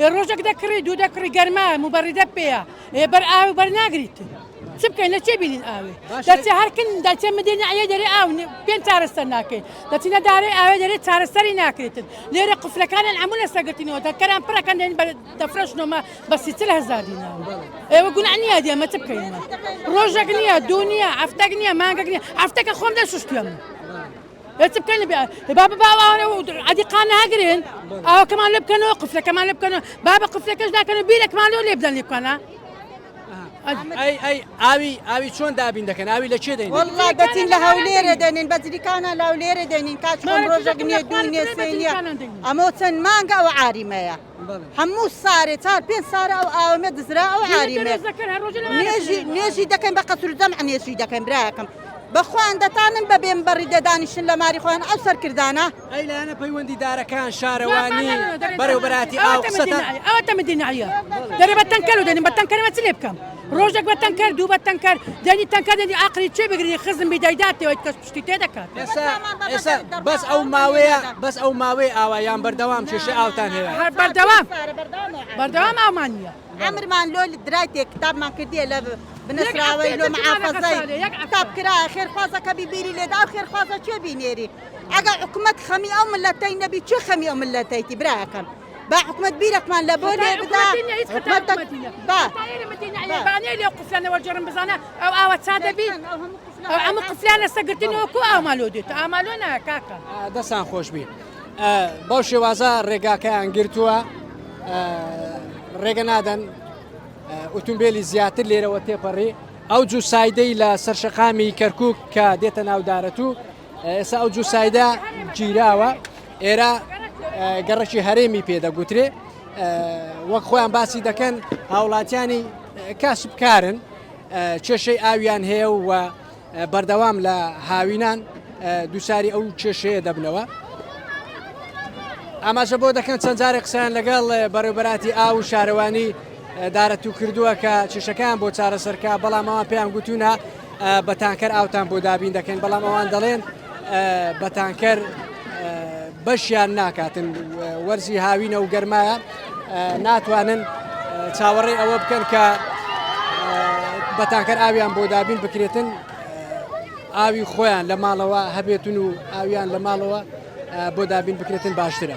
ئێ ڕۆژەک دەکڕی دوو دەکڕی گەرما موبەڕیدە پێەیە ئێ بەر ئاو بەرناگریت چ بکەین لە چێ بینین ئاوێ دەچێ هەرکن دەچێ مدێنە ئەە دەێ ئاو پێم چارەسەر ناکەین دەچینە دارێ ئاوێ دەێ چارەسەری ناکرێتن لێرە قفلەکانیان ئەمو لە سەگرتنەوە دەکەران پڕەکەن دێن دەفرەشنەوە بە سیتر هەزار دینا ئێوە گونا نییە دیێمە چ بکەین ڕۆژەک نییە دو نییە ئەفتەک نییە مانگەک نیە ئەفتەکە خۆم دەشتێم. ئێ چ بکەین بیا با ببا ئەوانە و عەدی قان ناگرن ئاوەکەمان لێ بکەنەوە قفلەکەمان لێ بکەنەوە با بە قفلەکەش ناکەن و بیرەکمان لۆ لێ بدەن لێ بکەنە ئاوی ئاوی چۆن دابین دەکەن ئاوی لە چێ دەین والله دەچین لە هەولێرە دەنین بەجریکانە لاولێرە دەنین کاچمان ڕۆژەک نیە دوو نیە سێ نیە ئەمە چەند مانگە ئەو عاریمەیە هەموو سارێ چار پێ سارە ئەو ئاوەێ دزرا ئەو عاریمێ نێژی دەکەین بە قەسرودەم ئەنێشی دەکەین براکەم بەخۆیان دەتانن بە بێم بەڕی دەدانیشن لە ماری خۆیان ئەو سەرکردانە ئەیلانە پەیوەندی دارەکان شارەوانی بەرەوبەتی ئاو قسەتە ئەوە تەمەدینایە دەرێ بە تەنکەلو دێنم بە تەنکەرەوە چ لێ بکەم ڕۆژێک بە تەنکەر دوو بە تەنکەر دەنی تەنکە دەنی ئاقلی چێ بگری خزم بیدایداتەوەیت کەس شتی تێ دەکات بەس ئەو ماوەیە بەس ئەو ماوەی ئاوا یان بەردەوام کێشە ئاوتان هەیە هەر بەردەوام بەردەوام ئامان نیە ئەمرمان لۆ درای تێ کتابمان کردیە لە بنەراوەی لۆ معافەزای کتاب کرا خێرخوازەکە بیبیری لێدا و خێرخوازە چێ بینێری ئەگە حکوومەت خەمی ئەو ملەتەی نەبی چێ خەمی ئەو ملەتەیتی براکەم با حکومەت بیرەکمان لە بۆ لێ بدا لێ قفلانەوە جێڕم بزانە ئەو ئاوە چا دەبی ئەو ئەمە قفلان لەسە گرتنەوەکو ئامالۆ دێت ئامالۆ ناکاکە دەستان خۆش بی بەو شێوازە ڕێگاکەیان گرتووە ڕێگە نادەن ئۆتومبیلی زیاتر لێرەوە تێپەڕی ئەو جوو سایدەی لە سەرشەقامی کەرکک کە دێتە ناودارەت و ئێستا ئەو جوسایدە گیراوە ئێرە گەڕەکی هەرێمی پێدەگوترێ وەک خۆیان باسی دەکەن هاوڵاتیانی کاسبکارن کێشەی ئاویان هەیە و بەردەوام لە هاوینان دووساری ئەو کێشەیە دەبنەوە ئاماژە بۆ دەکەن چەند جارێک قسەیان لەگەڵ بەڕێوبەراتی ئاو و شارەوانی دارەتو کردووە کە چشەکان بۆ چارەسەرکە بەڵام ئەوان پێیان گوتوونە بە تانکەر ئاوتان بۆ دابین دەکەین بەڵام ئەوان دەڵێن بە تانکەر بەشیان ناکاتن وەرزی هاوینە و گەرمایە ناتوانن چاوەڕێ ئەوە بکەن کە بە تانکەر ئاویان بۆ دابین بکرێتن ئاوی خۆیان لە ماڵەوە هەبێتن و ئاویان لە ماڵەوە بۆ دابین بکرێتن باشترە.